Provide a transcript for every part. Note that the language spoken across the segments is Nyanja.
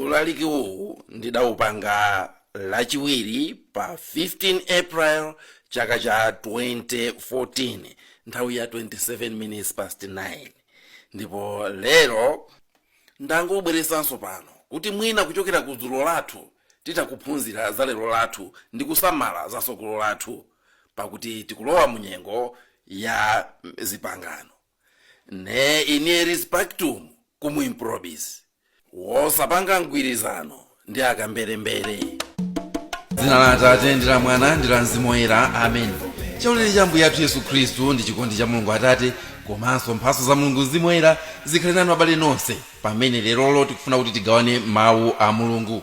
ulaliki uwu ndidawupanga lachiwiri pa 15 april chaka cha 2014 nthawi ya 27 minutes past 9 ndipo lero ndangobweresanso pano kuti mwina kuchokera ku dzulo lathu titakuphunzira za lero lathu ndi kusamala za tsogolo lathu pakuti tikulowa mu nyengo ya zipangano ne inieris pactum cum improbis wosapanga mgwirizano ndi akamberembere dzina la atate ndi la mwana ndi la mzimu woyera amen chaulere cha ambuye athu yesu khristu ndi chikondi cha mulungu atate komanso mphatso za mulungu mzimu woyera zikhale nanu abale nonse pamene lerolo tikufuna kuti tigawane mawu a mulungu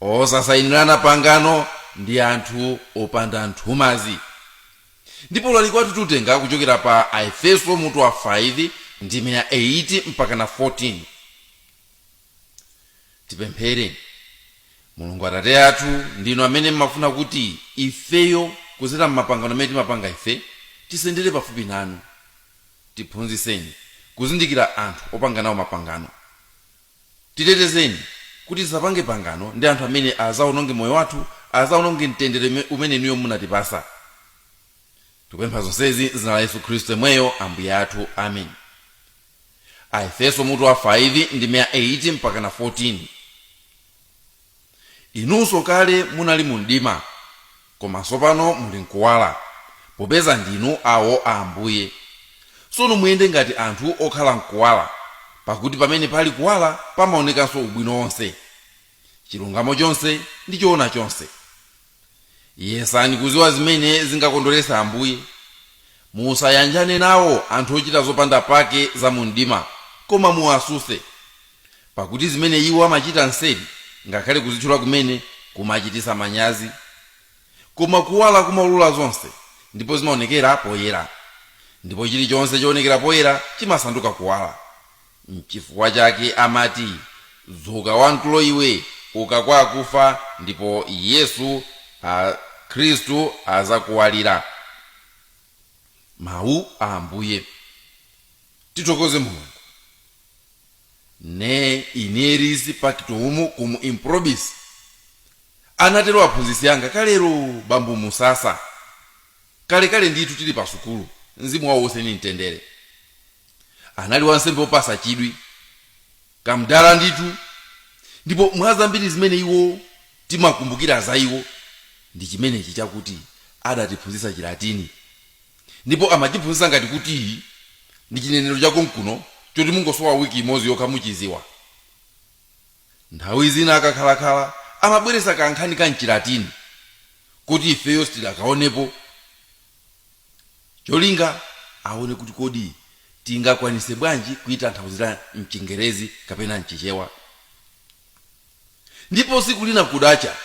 osasayinirana pangano ndi anthu opanda nthumazi ndipo ulaliki wathu tutenga kuchokera pa aefeso mutu wa 5 ndime ya 8 mpaka na 14 tipemphere mulungu atate athu ndinu amene mmafuna kuti ifeyo kudzera mmapangano amene timapanga ife tisendere pafupi nanu tiphunzitseni kuzindikira anthu opanga nawo mapangano Titetezeni kuti tisapange pangano ndi anthu amene adzawononge moyo wathu, adzawononge mtendere umene inuyo munatipatsa. Tikupempha zonsezi m'dzina la Yesu Khristu yemweyo Ambuye athu. Amen. Aefeso mutu wa 5 ndime ya 8 mpakana 14. Inunso kale munali mu mdima, koma tsopano muli m'kuwala, popeza ndinu awo a Ambuye. Tsono muyende ngati anthu okhala m'kuwala, pakuti pamene pali kuwala pamaonekanso ubwino wonse, chilungamo chonse ndi choona chonse. yesani kudziwa zimene zingakondweretse ambuye musayanjane nawo anthu ochita zopanda pake za mu mdima koma muwatsutse pakuti zimene iwo amachita nseri ngakhale kuzitchula kumene kumachititsa manyazi koma kuwala kumaulula zonse ndipo zimaonekera poyera ndipo chilichonse choonekera poyera chimasanduka kuwala Nchifukwa chake amati, Dzuka wamtulo iwe, uka kwa akufa, ndipo Yesu, a, Khristu, adzakuwalira. Mawu a Ambuye. Tithokoze Mulungu. Ne inieris pactum cum improbis, anatero aphunzitsi anga kalero, Bambo Musasa, kalekale ndithu tiri pa sukulu, Mzimu wawo uuse ndi mtendere. anali wansembe wopasa chidwi kamdala ndithu ndipo mwa zambiri zimene iwo timakumbukira za iwo ndi chimenechi chakuti adatiphunzitsa chilatini ndipo amachiphunzitsa ngati kuti ndi chinenero cha konkuno choti mungosowa wiki imodzi yokha muchiziwa nthawi zina akakhalakhala amabweresa kankhani ka mchilatini kuti ifeyo sitidakaonepo cholinga aone kuti kodi tingakwanise bwanji kuitanthauzira mchingerezi kapena mchichewa ndipo siku lina kudacha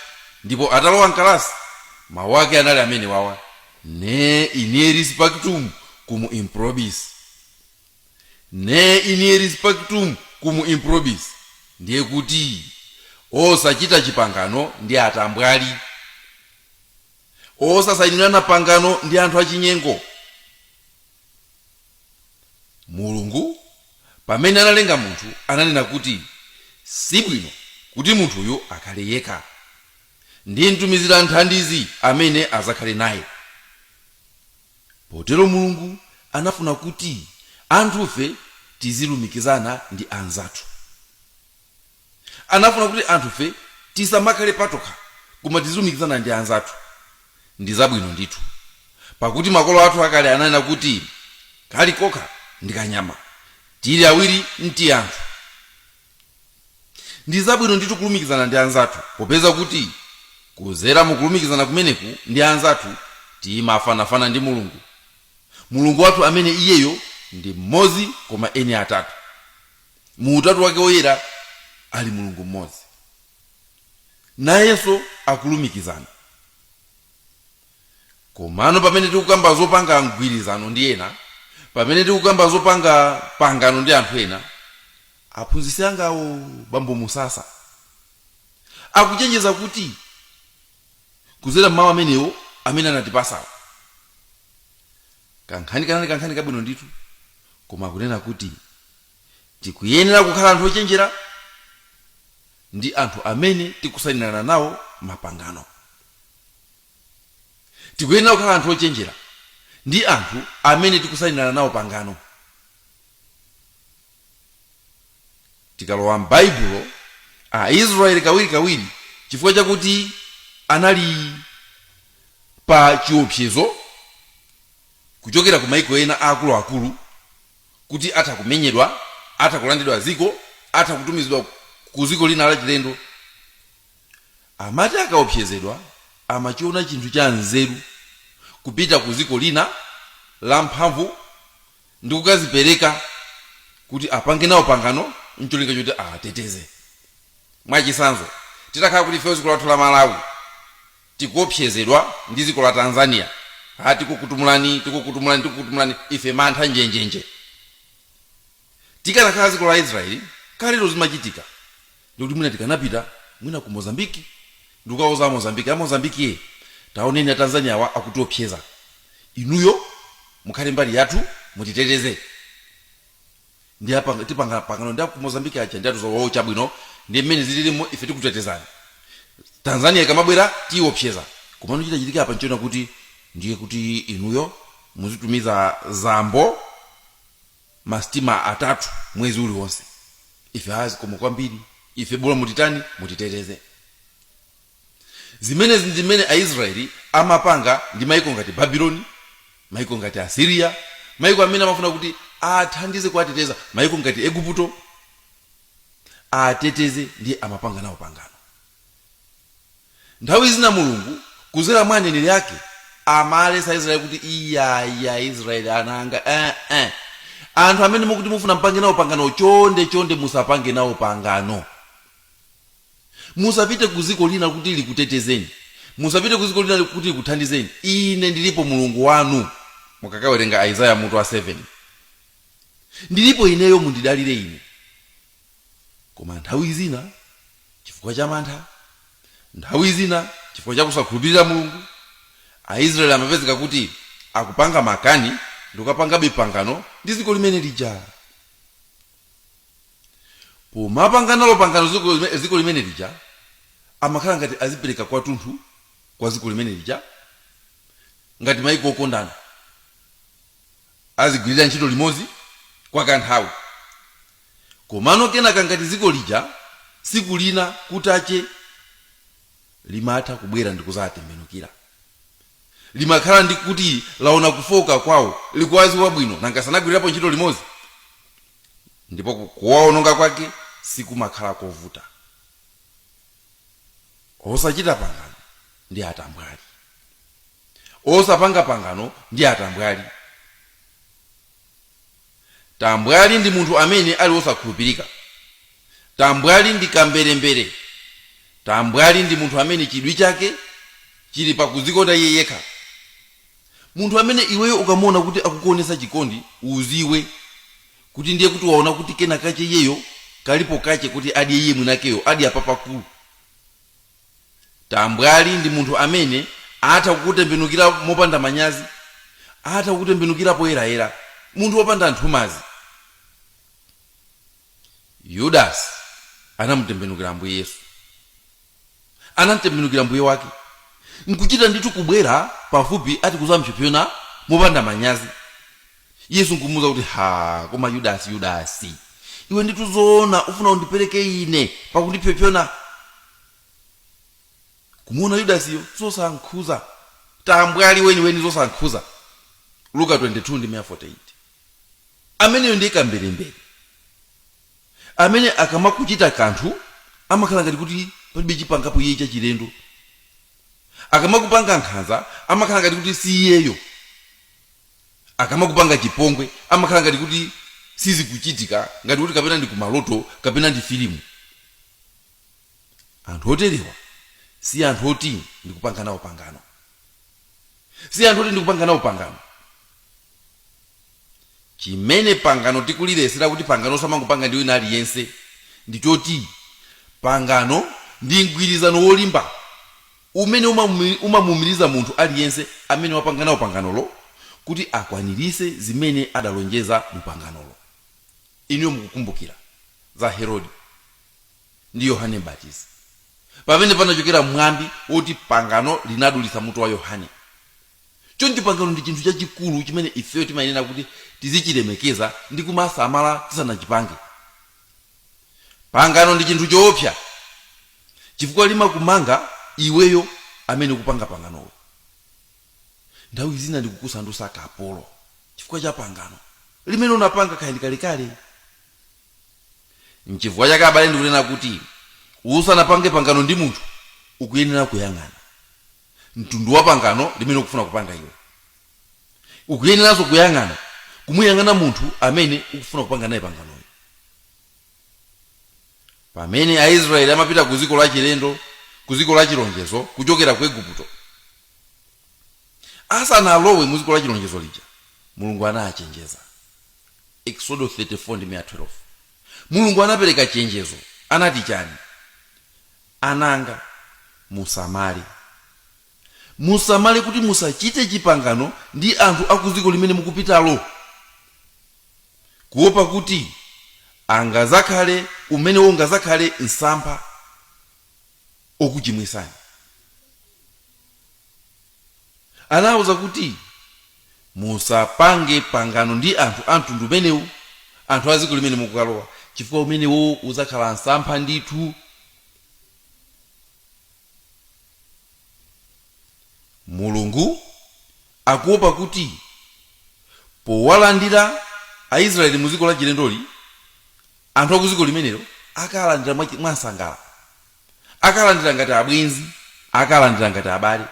ndipo atalowa mkalasi mawu ake anali amene wawa ne inieris pactum cum improbis ne inieris pactum cum improbis ndiye kuti osachita chipangano ndi atambwali osasainirana pangano ndi anthu achinyengo mulungu pamene analenga munthu ananena kuti sibwino kuti munthuyu akhale yekha ndimtumizira mthandizi amene azakhale naye potero mulungu anafuna kuti anthufe tizilumikizana ndi anzathu anafuna kuti anthufe tisamakhale patokha koma tizilumikizana ndi anzathu ndi zabwino ndithu pakuti makolo athu akale ananena kuti kali kokha ndi kanyama tili awiri nti anthu ndi zabwino ndithu kulumikizana ndi anzathu popeza kuti kuzera mukulumikizana kumeneku ndi anzathu timafanafana ndi mulungu mulungu wathu amene iyeyo ndi mmodzi koma eni atatu mu utatu wake woyera ali mulungu mmodzi nayenso akulumikizana komano pamene tikukamba zopanga mgwirizano ndi ena pamene tikukamba zopanga pangano ndi anthu ena aphunzitsi angawo bambo musasa akuchenjeza kuti kuzera mmawu amenewo amene anatipasawo Kankhani kanali kankhani kabwino ndithu, koma akunena kuti tikuyenera kukhala anthu ochenjera ndi anthu amene tikusainirana nawo mapangano. Tikuyenera kukhala anthu ochenjera ndi anthu amene tikusainirana nawo pangano. tikalowa m'baibulo aisraeli kawirikawiri chifukwa chakuti anali pa chiopsezo kuchokera ku maiko ena aakuluakulu kuti atha kumenyedwa atha kulandidwa ziko atha kutumizidwa ku ziko lina lachilendo amati akaopsezedwa amachiona chinthu cha nzeru kupita ku ziko lina lamphamvu ndi kukazipereka kuti apange nawo pangano ncholinga chokuti awateteze mwachitsanzo titakhala kuti ifeyo ziko lathu la malawi tikuopsezedwa ndi ziko la tanzania ha tikukutumulani tikukutumulani tikukutumulani ife mantha njenjenje tikanakhala ziko la israeli kalero zimachitika ndikuti mwina tikanapita mwina ku mozambiki ndikukauza amozambiki amozambiki ye taoneni atanzaniawa akutiopseza inuyo mukhale mbali yathu mutiteteze ndi apanga- tipanga pangano ndi aku mozambiki aja ndi atiuza awo chabwino ndi mmene zililimo ife tikutetezani tanzania ikamabwera tiiopseza komano chitachitika apa nchonena kuti ndiye kuti inuyo muzitumiza chambo masitima atatu mwezi uliwonse ife a zikomo kwambiri ife bora mutitani mutiteteze zimenezi ndi zimene aisraeli amapanga ndi maiko ngati babiloni maiko ngati asiriya maiko amene amafuna kuti awathandize kuwateteza maiko ngati eguputo awateteze ndiye amapanga nawo pangano Nthawi zina Mulungu kuzera mwa aneneri ake amawalesa Aisraeli kuti iyayi Aisraeli ana anga eh, eh. anthu amene mukuti mufuna mpange nawo pangano chonde chonde musapange nawo pangano musapite ku ziko lina kuti likutetezeni musapite ku ziko lina kuti likuthandizeni ine ndilipo mulungu wanu mukakawerenga aizaya mutu wa 7 ndilipo ineyo mundidalire ine koma nthawi zina chifukwa cha mantha nthawi zina chifukwa cha kusakhulupirira mulungu aisraeli amapezeka kuti akupanga makani ndikukapangabe pangano ndi ziko limene lija pomapanga nalo pangano ziko lime- ziko limene lija amakhala ngati azipereka kwathunthu kwa ziko limene lija ngati maiko okondana azigwirira ntchito limodzi kwa kanthawi komano kenaka ngati ziko lija siku lina kutacha limatha kubwera ndikuzawatembenukira limakhala ndi kuti laona kufooka kwawo likuwaziwa bwino nanga sanagwirirapo ntchito limodzi ndipo ku- kuwaononga kwake sikumakhala kovuta osachita pangano ndi atambwali osapanga pangano ndi atambwali tambwali ndi munthu amene ali wosakhulupirika tambwali ndi kamberembere tambwali ndi munthu amene chidwi chake chili pakuzikonda iye yekha munthu amene iweyo ukamuona kuti akukuonesa chikondi uziwe kuti ndiye kuti waona kuti kena kache iyeyo kalipo kache kuti adye iye mwinakeyo adya papakulu Tambwali ndi munthu amene atha kukutembenukira mopanda manyazi, atha kukutembenukira poyerayera, munthu wopanda nthumazi. Yudasi anamutembenukira Ambuye Yesu, anamtembenukira Mbuye wake, nkuchita ndithu kubwera pafupi ati kudzam'psopsona mopanda manyazi. yesu nkumuuza kuti ha koma yudasi yudasi iwe ndithu zoona ufuna undipereke ine pakundipsopsona kumuona yudasiyo zosankhuza tambwali weniweni zosankhuza luka 22 ndi 48 ameneyo ndiye kamberembere amene akamakuchita kanthu amakhala ngati kuti palibe chimene akupangapo iye chachilendo akamakupanga nkhanza amakhala ngati kuti si iyeyo akamakupanga chipongwe amakhala ngati kuti sizikuchitika ngati kuti kapena ndi kumaloto kapena ndi filimu anthu oterewa si anthu oti ndikupanga nawo pangano si anthu oti ndikupanga nawo pangano chimene pangano tikuliletsera kuti pangano samangopanga ndi wina aliyense ndi choti pangano ndi mgwirizano wolimba umene umamumi- umamuumiriza munthu aliyense amene wapanga nawo panganolo kuti akwaniritse zimene adalonjeza mu panganolo inuyo mukukumbukira za herode ndi yohane mbatizi pamene panachokera mwambi woti pangano linadulitsa mutu wa yohane choncho pangano ndi chinthu chachikulu chimene ifeyo timayenera kuti tizichilemekeza ndi kumasamala tisanachipange pangano ndi chinthu choopsa chifukwa limakumanga iweyo amene ukupanga panganolo. Nthawi zina ndikukusandusa kapolo chifukwa cha pangano limene unapanga kaya ndi kalekale. N'chifukwa chake abale ndikunena kuti, usanapange pangano ndi munthu, ukuyenera kuyang'ana mtundu wa pangano limene ukufuna kupanga iwe. Ukuyeneranso kuyang'ana kumuyang'ana munthu amene ukufuna kupanga naye panganoyo. pamene aisraeli amapita ku dziko lachilendo ku dziko lachilonjezo kuchokera ku igupto asanalowe mu dziko lachilonjezo lija mulungu anachenjeza exodo 34 ndi 12 mulungu anapereka chenjezo anati chani anzanga musamale musamale kuti musachite chipangano ndi anthu a ku dziko limene mukupitalo kuopa kuti angazakhale umenewo ungazakhale msampha okuchimwisani anauza kuti musapange pangano ndi anthu a mtundu umenewu anthu a dziko limene mukukalowa chifukwa umenewo uzakhala msampha ndithu Mulungu akuopa kuti powalandira Aisraeli mu dziko lachilendoli, anthu akudziko limenelo akalandira mwamsangala, akalandira ngati abwenzi, akalandira ngati abale,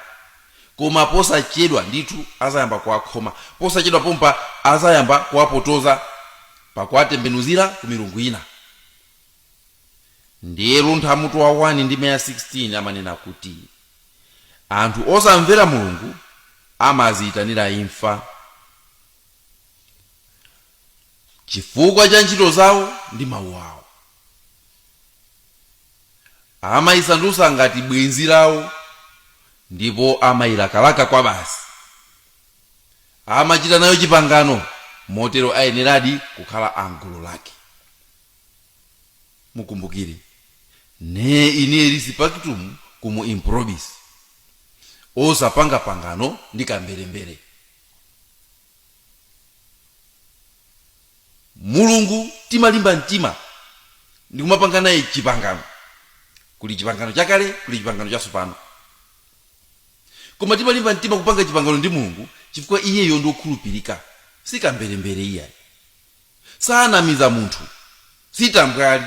koma posachedwa ndithu azayamba kuwakhoma, posachedwa pompa azayamba kuwapotoza pakuwatembenuzira ku milungu ina. ndiye luntha mutu wa 1 ndime ya 16 amanena kuti anthu osamvera mulungu amaziyitanira imfa chifukwa cha ntchito zawo ndi mawu awo amayisandutsa ngati bwenzi lawo ndipo amayilakalaka kwabasi amachita nayo chipangano motero ayeneradi kukhala amgulu lake mukumbukire ne inieris pactum cum improbis osapanga pangano ndi kamberembere mulungu timalimba mtima ndikumapanga naye chipangano kuli chipangano chakale kuli chipangano chatsopano koma timalimba mtima kupanga chipangano ndi mulungu chifukwa iyeyo ndi wokhulupirika si kamberembere iyayi sanamiza munthu si tambwali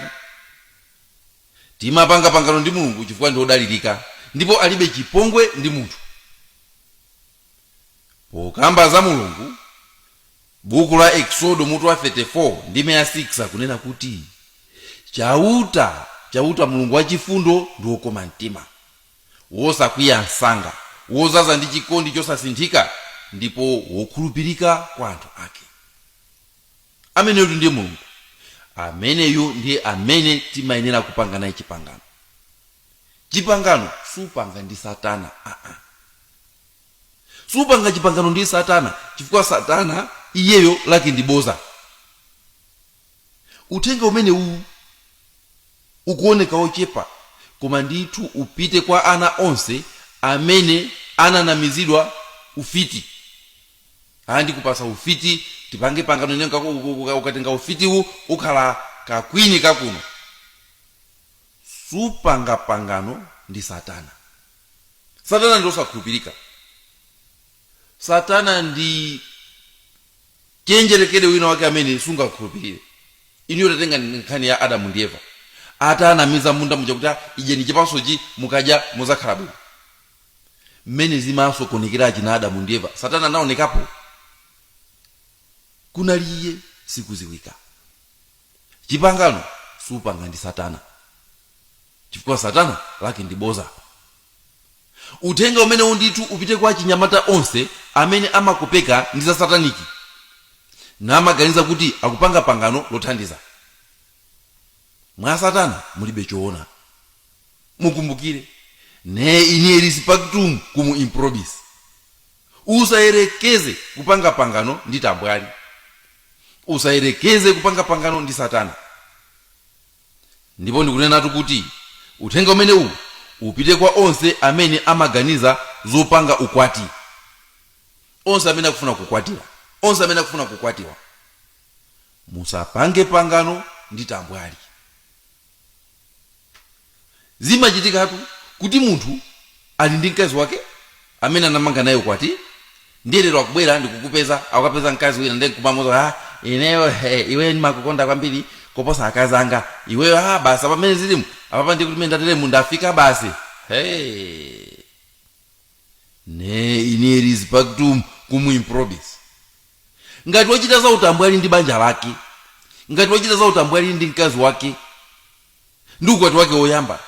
timapanga pangano ndi mulungu chifukwa ndi odalirika ndipo alibe chipongwe ndi munthu pokamba za mulungu buku la eksodo mutu wa 34 ndime ya 6 akunena kuti chauta chauta mulungu wachifundo ndi wokoma mtima wosakwiya msanga, wodzaza ndi chikondi chosasinthika, ndipo wokhulupirika kwa anthu ake. Ameneyutu ndiye Mulungu. Ameneyu ndiye amene timayenera kupanga naye chipangano. Chipangano supanga ndi Satana aa. Supanga chipangano ndi Satana chifukwa Satana iyeyo lake ndi boza. uthenga umenewu ukuoneka ochepa koma ndithu upite kwa ana onse amene ananamizidwa ufiti aa ndikupasa ufiti tipange pangano ine ukatenga ufitiwu ukhala kakwini kakuno supanga pangano ndi satana satana ndi osakhulupirika satana ndi chenjerekere wina wake amene sungakhulupirire iniyo tatenga nkhani ya adamu ndi eva atanamiza munda muja kuti idyani chipasochi mukadya muzakhala bwino mmene zimasokonekera achina adamu ndi eva satana anaonekapo kunali iye sikuziwika chipangano supanga ndi satana chifukwa satana n'lake ndi boza uthenga umenewu ndithu upite kwa achinyamata onse amene amakopeka ndi za sataniki namaganiza kuti akupanga pangano lothandiza mwa satana mulibe choona mukumbukire ne inieris pactum cum improbis usayerekeze kupanga pangano ndi tambwali usayerekeze kupanga pangano ndi satana ndipo ndikunenatu kuti uthenga umenewu upite kwa onse amene amaganiza zopanga ukwati onse amene akufuna kukwatira onse amene akufuna kukwatiwa musapange pangano ndi tambwali Zimachitikatu kuti munthu ali ndi mkazi wake amene anamanga naye ukwati ndiye lero akubwera ndikukupeza akukapeza mkazi wina ndiye nkumamuza ah, ineyo he, iweyo ndimakukonda kwambiri koposa akazi anga iweyo ah, basi apa mmene zilimu apapa ndiye kuti mmene ndateremu ndafika basi hey. ne inieris pactum cum improbis ngati wachita za utambwali ndi banja lake ngati wachita za utambwali ndi mkazi wake ndi ukwati wake woyamba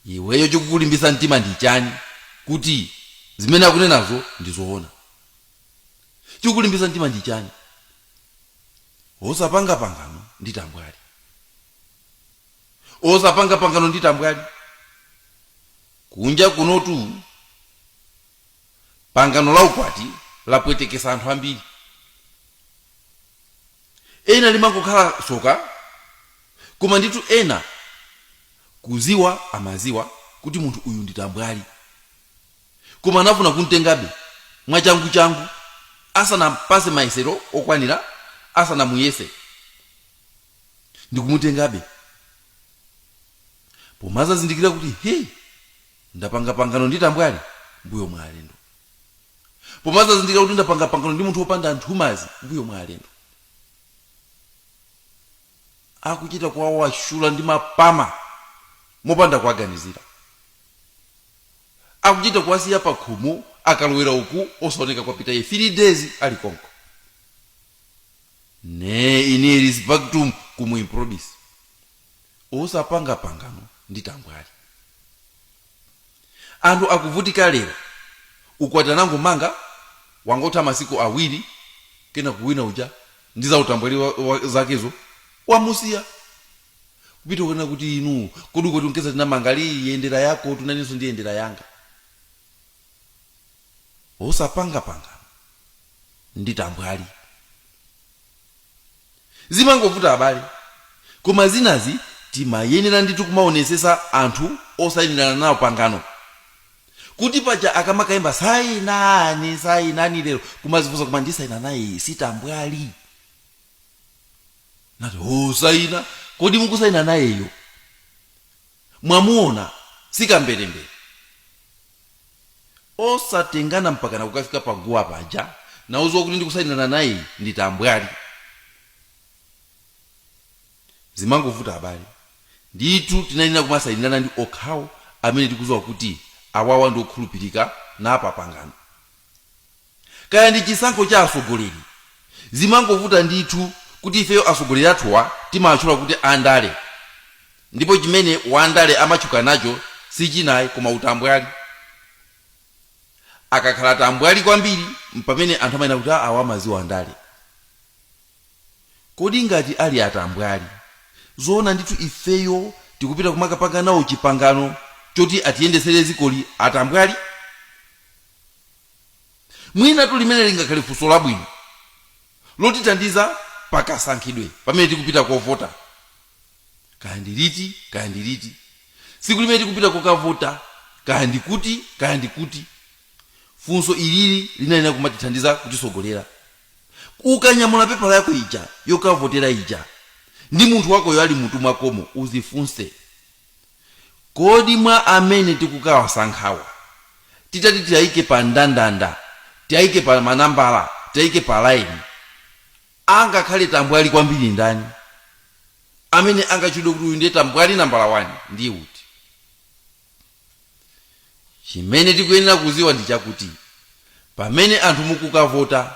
iweyo chikukulimbisa mtima ndi chani kuti zimene akunenazo ndi zoona chikukulimbisa mtima ndi chani osapanga pangano ndi tambwali osapanga pangano ndi tambwali kunja kunotu pangano la ukwati lapwetekesa anthu ambiri ena limangokhala tsoka koma nditu ena kuziwa amaziwa kuti munthu uyu ndi tambwali koma anafuna kumtengabe mwachangu changu asanampase mayesero okwanira asanamuyese ndikumutengabe pomazazindikira kuti he Ndapanga pangano ndi tambwali mbuyo mwa alendo. Pomazazindikira kuti ndapanga pangano ndi munthu wopanda nthumazi mbuyo mwa alendo. Akuchita kuwawashula ndi mapama mopanda kuwaganizira. Akuchita kuwasiya pakhomo akalowera uku osaoneka kwapita iye 3 days ali konko. Ne inieris pactum cum improbis. osapanga pangano ndi tambwali anthu akuvutika lero ukwati anangomanga wangotha masiku awiri kena kuwina uja ndi za utambwali wa, wa, zakezo wamusiya kupita kuona kuti inu kodi ukwati unkeza tinamanga li yendera yako tu nanenso ndi yendera yanga osapanga pangano ndi tambwali zimangovuta abale koma zinazi timayenera ndithu kumaonesesa anthu osainirana nawo pangano kuti paja akamakayimba sayinani sayinani lero kumazifunsa koma ndisayina naye sitambwali inu osayina kodi mukusayina nayeyo mwamuona si kamberembere osatengana mpakana kukafika pa guwa paja usanadziwe kuti ndikusainirana naye ndi tambwali zimangovuta abale ndithu tinayenera kumasainirana ndi okhawo amene tikuziwa kuti awawa ndi okhulupirika na pa pangano Kaya ndi chisankho cha atsogoleri, zimangovuta ndithu kuti ifeyo atsogoleri athuwa timawatchula kuti a ndale ndipo chimene wandale amatchuka nacho si china ayi koma utambwali. Akakhala tambwali kwambiri m'pamene anthu amanena kuti aa awa amadziwa ndale. Kodi ngati ali atambwali, zoona ndithu ifeyo tikupita kumakapanga nawo chipangano choti atiyendetsere dzikoli atambwali? mwinatu limene lingakhale funso labwino lotithandiza pakasankhidwe pamene tikupita kovota kaya ndi liti kaya ndi liti tsiku limene tikupita kokavota kaya ndi kuti kaya ndi kuti funso ilili linayenera kumatithandiza kutitsogolera ukanyamula pepala yako ija yokavotera ija ndi munthu wakoyo ali mutu mwakomo uzifunse Kodi mwa amene tikukawasankhawa titati tiaike pa ndandanda, tiaike pa manambala, tiaike pa laini, angakhale tambwali kwambiri ndani? Amene angatchulidwe kuti uyu ndiye tambwali nambala wani ndiye uti? Chimene tikuyenera kudziwa ndi chakuti pamene anthu mukukavota,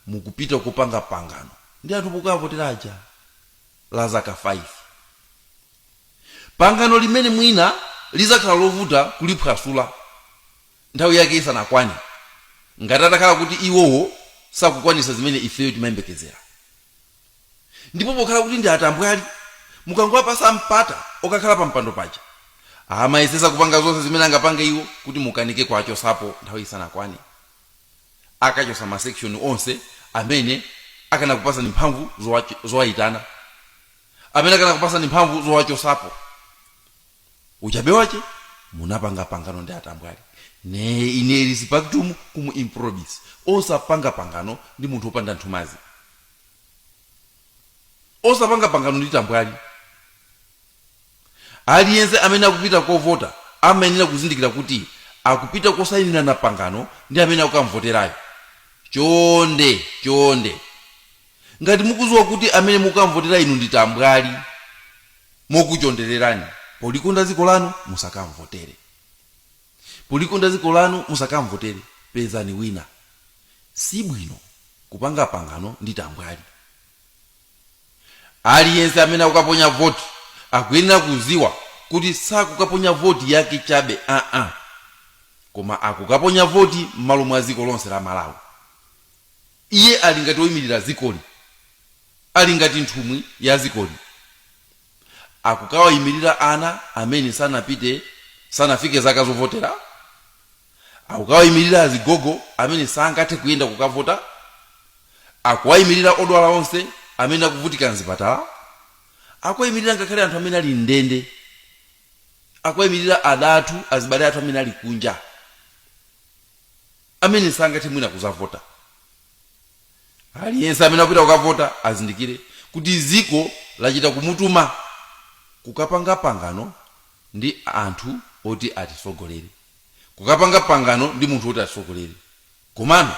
mukupita kukapanga pangano ndi anthu mukukawavotera aja la zaka 5. pangano limene mwina lizakhala lovuta kuliphwasula nthawi yake isanakwane ngati atakhala kuti iwowo sakukwanisa zimene ifeyo timayembekezera ndipo pokhala kuti ndi atambwali mukangowapasa mpata okakhala pa mpando paja amayesesa kupanga zonse zimene angapange iwo kuti mukanike kuwachosapo nthawi isanakwane akachosa masekishoni onse amene akanakupasani mphamvu zowayitana amene akanakupasani mphamvu zowachosapo uchabe wache munapanga pangano ndi atambwali ne ine eris pactum cum improbis osapanga pangano ndi munthu opanda nthumazi osapanga pangano ndi tambwali Aliyense amene akupita kovota amayenera kuzindikira kuti akupita kosainira na pangano ndi amene akukamvoterayo. Chonde, chonde, ngati mukudziwa kuti amene mukukamvotera inu ndi tambwali, mokuchondererani, polikonda dziko lanu, musakamvotere. Polikonda dziko lanu, musakamvotere. Pezani wina. Si bwino kupanga pangano ndi tambwali. Aliyense amene akukaponya voti akuyenera kudziwa kuti sakukaponya voti yake chabe aa, koma akukaponya voti m'malo mwa dziko lonse la Malawi. Iye ali ngati woimirira dzikoli, ali ngati nthumwi ya dzikoli. Akukawaimirira ana amene sanapite, sanafike zaka zovotera. akukawaimirira azigogo amene sangathe kuyenda kukavota akuwaimirira odwala onse amene akuvutika mzipatala akuwaimirira ngakhale anthu amene ali mndende akuwaimirira adatu azibale athu amene ali kunja amene sangathe mwina kuzavota aliyense amene akupita kukavota azindikire kuti ziko lachita kumutuma kukapanga pangano ndi anthu oti atisogolere kukapanga pangano ndi munthu woti atisogolere komano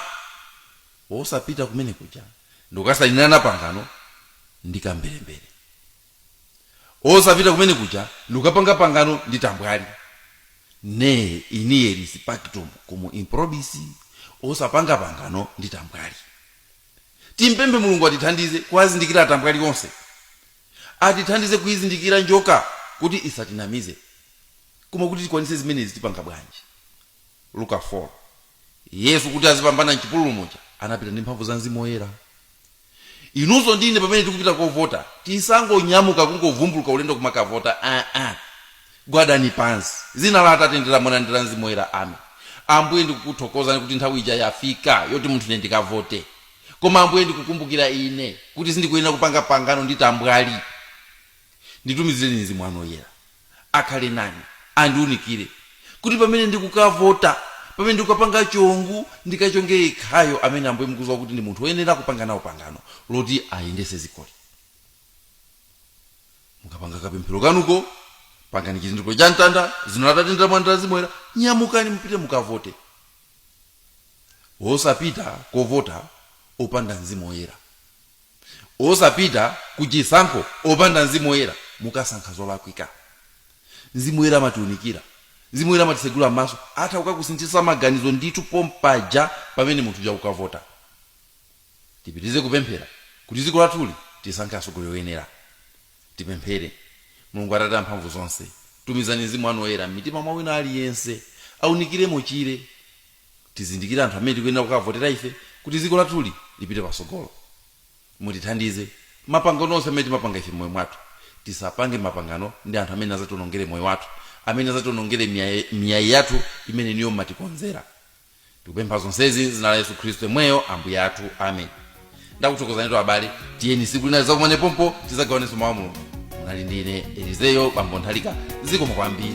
osapita kumene kuja ndikukasainirana pangano ndi kamberembere osapita kumene kuja ndikukapanga pangano ndi tambwali ne inieris pactum cum improbis osapanga pangano ndi tambwali timpembe mulungu atithandize kuwazindikira atambwali onse atithandize kuizindikira njoka kuti isatinamize Koma kuti tikwanitse zimenezi tipanga bwanji? Luka 4, Yesu kuti azipambana m'chipululu muja, anapita ndi mphamvu za Mzimu Woyera. Inunso ndi ine pamene tikupita kovota, tisangonyamuka kungovumbuluka ulendo kumakavota aa! Gwadani pansi. Dzina la Atate ndi la Mwana ndi la Mzimu Woyera. Ame. Ambuye ndikukuthokozani kuti nthawi ija yafika yoti munthu ine ndikavote. Koma Ambuye ndikukumbukira ine kuti sindikuyenera kupanga pangano ndi tambwali. Nditumizireni Mzimu wanu Woyera. akhale nani andiunikire kuti pamene ndikukavota pamene ndikukapanga chongu ndikachonge yekhayo amene ambuye mukuziwa kuti ndi munthu woyenera kupanga nawo pangano loti ayendese zikoli mukapanga kapemphero kanuko pangani chizindikiro cha mtanda zina la atate ndi la mwana ndi la mzimu woyera nyamukani mupite mukavote osapita kovota opanda mzimu woyera osapita ku chisankho opanda mzimu woyera mukasankha zolakwika mzimu woyera amatiunikira mzimu woyera amatisegula maso atha kukakusinthitsa maganizo ndithu pompaja pamene munthu uja ukavota tipitirize kupemphera kuti dziko lathuli tisankhe atsogoleri oyenera tipemphere mulungu atate amphamvu zonse tumizani mzimu wanu woyera m'mitima mwa wina aliyense aunikiremo achire tizindikire anthu amene tikuyenera kukavotera ife kuti dziko lathuli lipite patsogolo mutithandize mapangano onse amene timapanga ife mmoyo mwathu tisapange mapangano ndi anthu amene azationongere moyo wathu amene azationongere miyayi yathu imene inuyo mumatikonzera tikupempha zonsezi m'dzina la yesu khristu yemweyo ambuye athu amen ndakuthokozanitu abale tiyeni siku lina tizakumane pompano tizagawanenso mawu a mulungu munali ndine elizeyo bambo nthalika zikomo kwambiri